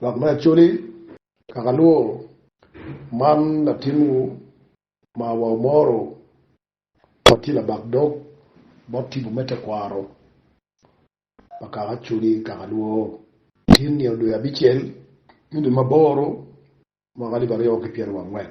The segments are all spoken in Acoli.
Lok me Acholi, Kaka Luo, man latinwu ma wa omoro ma tye labak dog bot tipo me tekwaro pa kaka Acholi, Kaka Luo, tin nino dwe abicel, me dwe ma aboro, mwaka alip aryo ki pyeraryo ki angwen.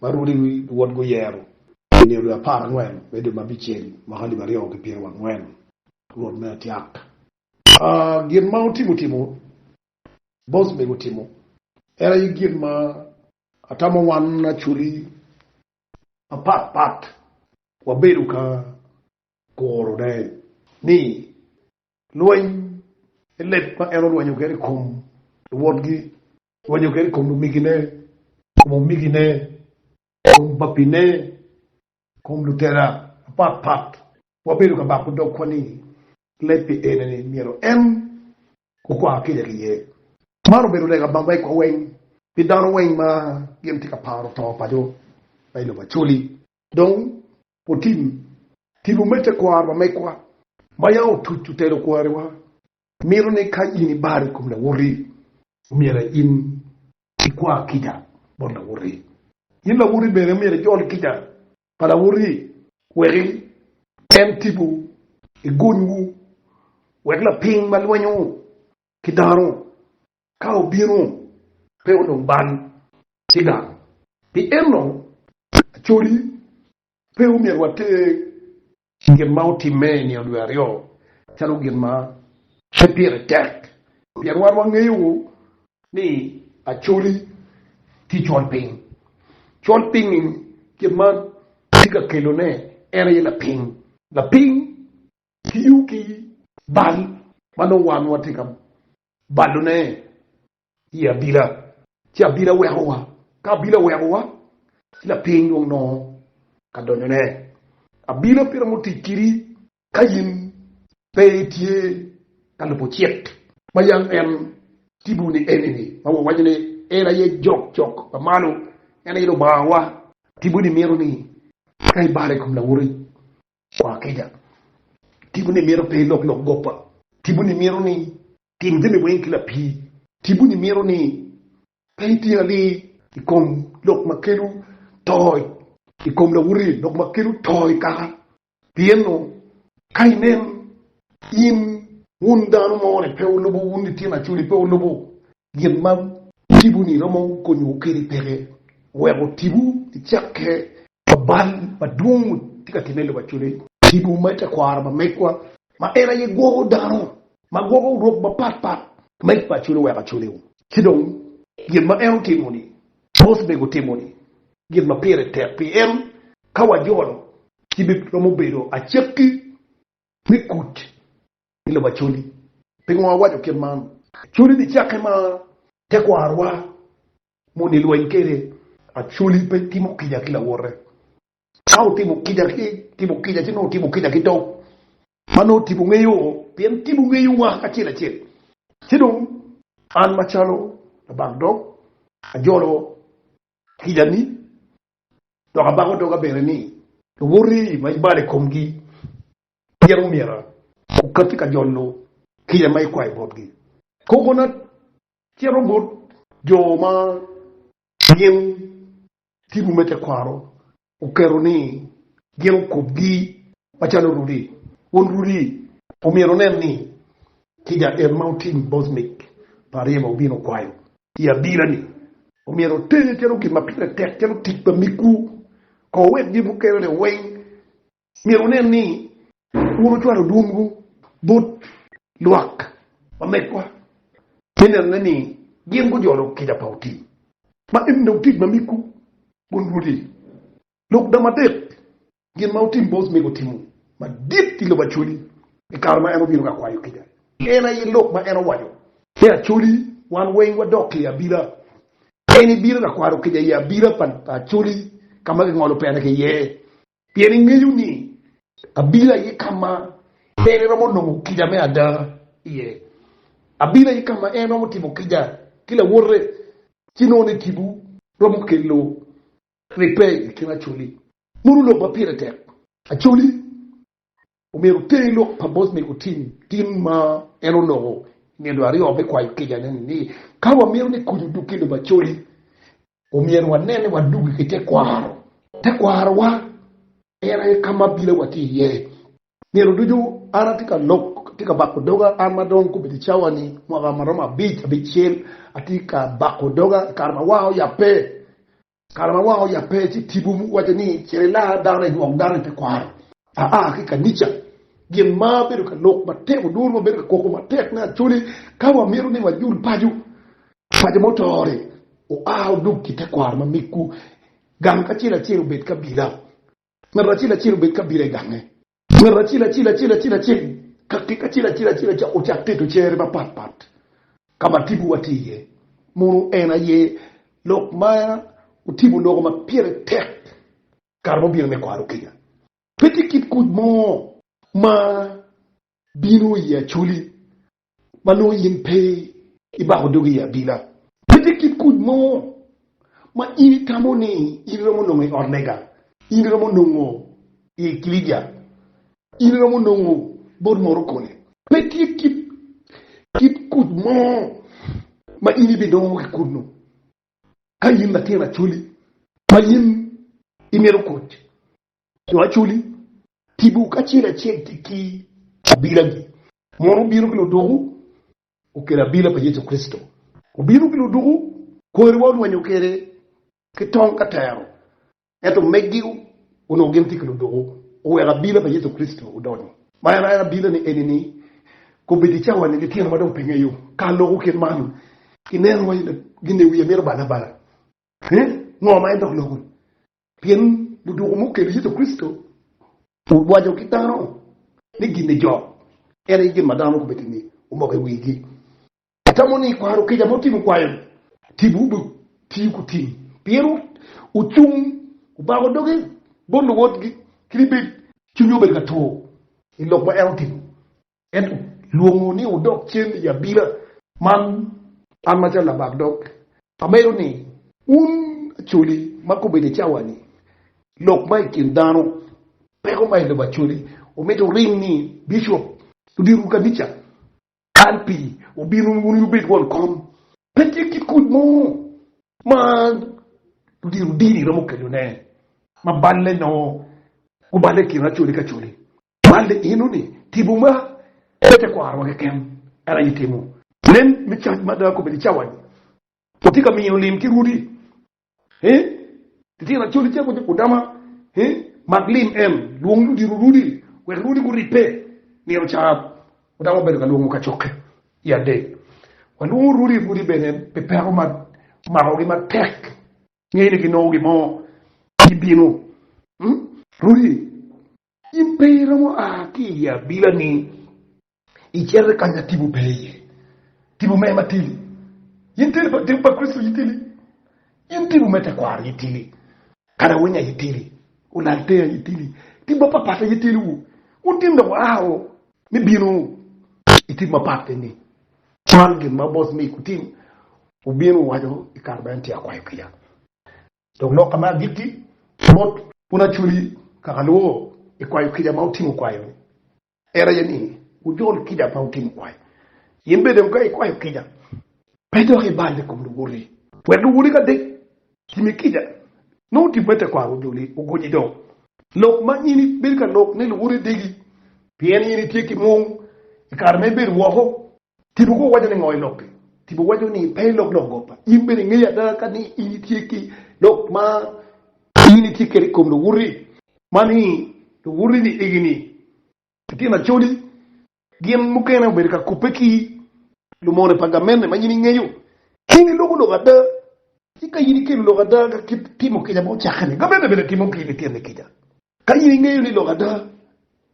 ma Rudi wod guyero. I nino dwe apar angwen me dwe ma abicel, mwaka alip aryo ki pyerewa angwen, rwot me atyak. A Gin ma otimo timo, bos mego otimo, en aye gin ma atamo wan Acholi mapat pat wabedo ka kurone, ni lweny, leb ma en olwenyo kwede i kom luwotgi Rwenyo kede i kom lumegine, i kom omegine, i kom babine, i kom lutela mapat pat. Wabedo ka bako dogwa ni leb pi ene ni myero en okwa kica ki ye. Man obedo lega bam wegwa weng pi dano weng ma gin tye ka paro to paco ma i lobo Acholi. Dong watim tipo me tekwaro pa megwa ma yam otuc otelo kwariwa Mito ni ka in ibaro i kom lawoti, omyero in ikwa kica bot lawoti. In lawoti bene omyero ijol kica pa lawoti wek en tibu i gonywu, wek lapiny ma lwenyo ki dano ka obino pe onong bal ki gang. Pi enno, acoli pe omyero water Gin ma otimme i nino dwe aryo calo gin ma pe pire tek pien wan wangeyo ni Acholi tye colpiny. Colpiny-nyi gin ma tye ka kelone en aye lapiny. Lapiny tiyo ki bal ma nongo wan watye ka balone i abila, ci abila wekowa, ka abila owekowa, ci lapiny dong nongo ka donyone. Abila pire mutic kidi ka in pe itye ka lubo cik ma yam en tibu ni eni-ni, ma wawaco ni en aye jok cok pa malo, en aye Lubangawa. Tibu-ni mito ni ka ibalo i kom lawote, Kwa kica. Tipo-ni mito pe ilok lok goppa. Tipo-ni mito ni itim jami weng ki lapii. Tipo-ni mito ni pe iti alii. I kom lok ma kelo to. I kom lawote lok ma kelo to i kaka. Pienno ka inen in wun dano mo ni pe wulubo wun litino acoli pe wulubo gin ma wutimo-ni romo konyowu kede peke wek wutibu i cakke ma bal madwong tye ka timme i lobo acwaleni. Tipo me tekwaro pa megwa ma en aye gwoko dano ma gwoko rok mapat pat ma i paco luweko acwaliu. Ci dong, gin ma en otimo-ni, mos mego timo-ni, gin ma pire tek pi en, ka wajolo, ci biromo bedo acakki me kuc i lobo Acholi. Pingo awaco kit man? Acholi ni cakke ma tekwarwa ma onongo ilweny kwede, Acholi pe timo kica ki lawote. Ka otimo kica ki timo kica ci nongo otimo kica ki tok ma nongo tipo ngeyo pien tipo ngeyowa acel acel. Ci dong an macalo labak dog ajolo kica ni dok abako doga bene ni luwoti ma ibalo i komgi Pien omyero okatti ka jolo kica ma ikwayo botgi. Kogona cito bot jo ma gin tipo me tekwaro oketo ni gin okobgi macalo rudi. Won rudi omyero onen ni kica en ma otim bot mic pa ariya ma obino kwayo i adira-ni omyero otenye calo gin ma pire tek calo tic pa miggu. Ko wek gin mukene-ni weng myero wunen ni wun wucwalo dwonwu bot lwak ma megwa me nenone ni gin gujolo kica pa otii ma en dong tic ma migwu bot Rwodi. Lok dama adek, Gin ma otim bot mego timo madit i lobo Acholi i kare ma en obino ka kwayo kica en aye lok ma en owaco ni, Acholi, wan weng wadok i abila. En ibino ka kwaro kica i abila pa Acholi ka ma gingolo pene ki iye. Pien ingeyo ni abino aye ka ma en eromo nongo kica me ada iye. Abino aye ka ma en romo timo kica ki lawote, ci nongo ni tipo romo kelo ribbe i kin Acholi. Mono lok ma pire tek Acholi omyero oter lok pa bot mego tim tin ma en onongo i nino aryo me kwayo kicane-ni ni, Ka wamito ni kuc odug ki lubacodi, omyero wanen ni wadugi ki tekwaro. Tekwarowa en aye ka ma bilawa tye iye. Nino ducu an atye ka lok, atye ka bako doga, an ma dong kobedo i cawa-ni mwaka ma romo abic, abicel, atye ka bako doga i kare ma wanga oyabbe. Kare ma wang oyab pe ci tipo waco ni cit ilar dano inywok dano i te kwaro. Aa ki i kanica, gin ma bedo ka lok matek oduro ma bedo ka koko matek me Acholi ka wamito ni wajul paco pa jo mutore oa odog ki te kwaro ma miggu gang kacel acel obed kabila. Ng'ato acel acel obed ka bino i gange. Ng'ato acel acel acel acel acel ka kek acel acel acel acel ocak keto cere mapat pat ka ma tipowa tye iye. Mono en aye lok ma otipo loko ma pire tek kare ma obino me kwaro kica. Pe tye kit kuc mo ma bino i Ye Acholi ma nongo in pe ibako dogi i abila. Miti kit kuc mo ma in itamo ni in iromo nongo i ot lega, in iromo nongo i ekilicia, in iromo nongo bot morokone. Pe tye kit kit kuc mo ma in ibinongo ki kunnu ka in latin Acholi ma in imito kuc jo acoli, tipo kacel acel tye ki abilagi. Mono obino ki luduku okelo abila pa Yecu Kricito? Obino ki luduku kwariwa olwenyo kwede ki tong ka tero, ento megi onongo gin tye ki luduku oweko abila pa Yecu Kricito odonyo. Ma en aye abilane eni-ni, kobeddi i cawani litino ma dong pengeyo ka loko kit man, ineno wa gin-ni wiye mito bale abala, Ee, ngo ma en dok loko-ni? Pien ludwoko mukene Yecu Kricito orwaco ki dano ni gin ejok, en aye gin ma dano gubedo ni omoko i wigi. Atamo ni i kwaro kica ma wutimo kwayo-ni, timwu obitiyo ku tim pien wucung wubako dogi bot luwotgi kit ibed cwinywu obedo ka tur i lok ma en otimo. Ento lwongo ni wudok cen i abila. Man an macalo labak dog amedo ni wun Acholi ma gubedo i cawa-ni, lok ma i kin dano, peko ma i lobo Acholi omito wuring ni bicop, ludito kanica, kal pi obino wun wubed won kom. Pe tye kit kuc mo ma ludito dini romo kelone ma balle nongo guballe i kin Acholi ki Acholi. Man ni inu ni timo ma pe tekwarowa keken en aye timo. Nen me cac ma ada kobedi cawa-ni watye ka miyo lim ki rwodi. Litino Acholi cako ki Udama, Mak lim en, lwong ludito rwodi wek rwodi guribbe. Nino ca Udama obedo ka lwongo kacokke i adek. Walwongo rwodi rwodi bene pi peko ma omakogi matek, ngeyo ni ginongo gin mo gibino. Rwodi In pe iromo a ki i abilani icito ka ma tipo pe iye. Tipo me matili. In tipo pa Kricito itili. In tipo me tekwaro itili. Kadawinya itili. Olalteya itili. Tim mapatpat aye tiliwu. Wun tim dong aa o ni bino i tipo mapat keni. Cwal gin ma Bos Mic wutim obino waco i kare ma en tye akwayo kica. Dok loka me agikki bot. Un Aculi, kaka lubo i kwayo kica ma wutimo kwayo-ni, en aye ni, wujol kica ma wutimo kwayo. In bene dong ka ikwayo kica, pe dok ibal i kom luwoti, wek luwoti ka dek timi kica, nongo tim me tekwaro ojoli, ogonyi dong. Lok ma in ibed ka lok ni luwoti degi, pien in itye ki mung i kare ma ibedo woko. Tipo pe owaco ni ngo iloki, tipo waco ni pe ilok lok gopa. In bene ingeyo ada ka ni in itye ki lok ma in itye kede ikom luwuti ma ni luwuti ni igi ni litino acholi gin mukene obedo ka kubbe ki lumone pa gamente ma in ingeyo. Ka in iloko lok ada ci ka in ikelo lok ada ka kit timo kica ma ocakke ni, gamente bene timo ki litini kica. Ka in ingeyo ni lok ada,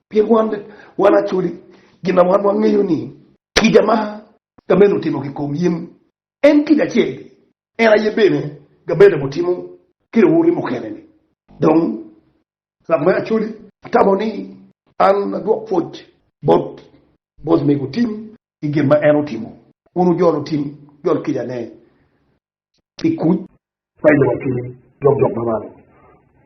pien wan bene wan acoli, gin ma wan wangeyo ni kica ma Gamaliel otimo kikom yim, en kica acel ni en aye bene Gamaliel obitimo ki luwoti mukene-ni. Dong lok me acoli tamo ni an adwok pwoc bot bos mego Tim i gin ma en otimo. Wun wujolo Tim, wujol kicane i kuc pa i lobo ki jok jok ma malo.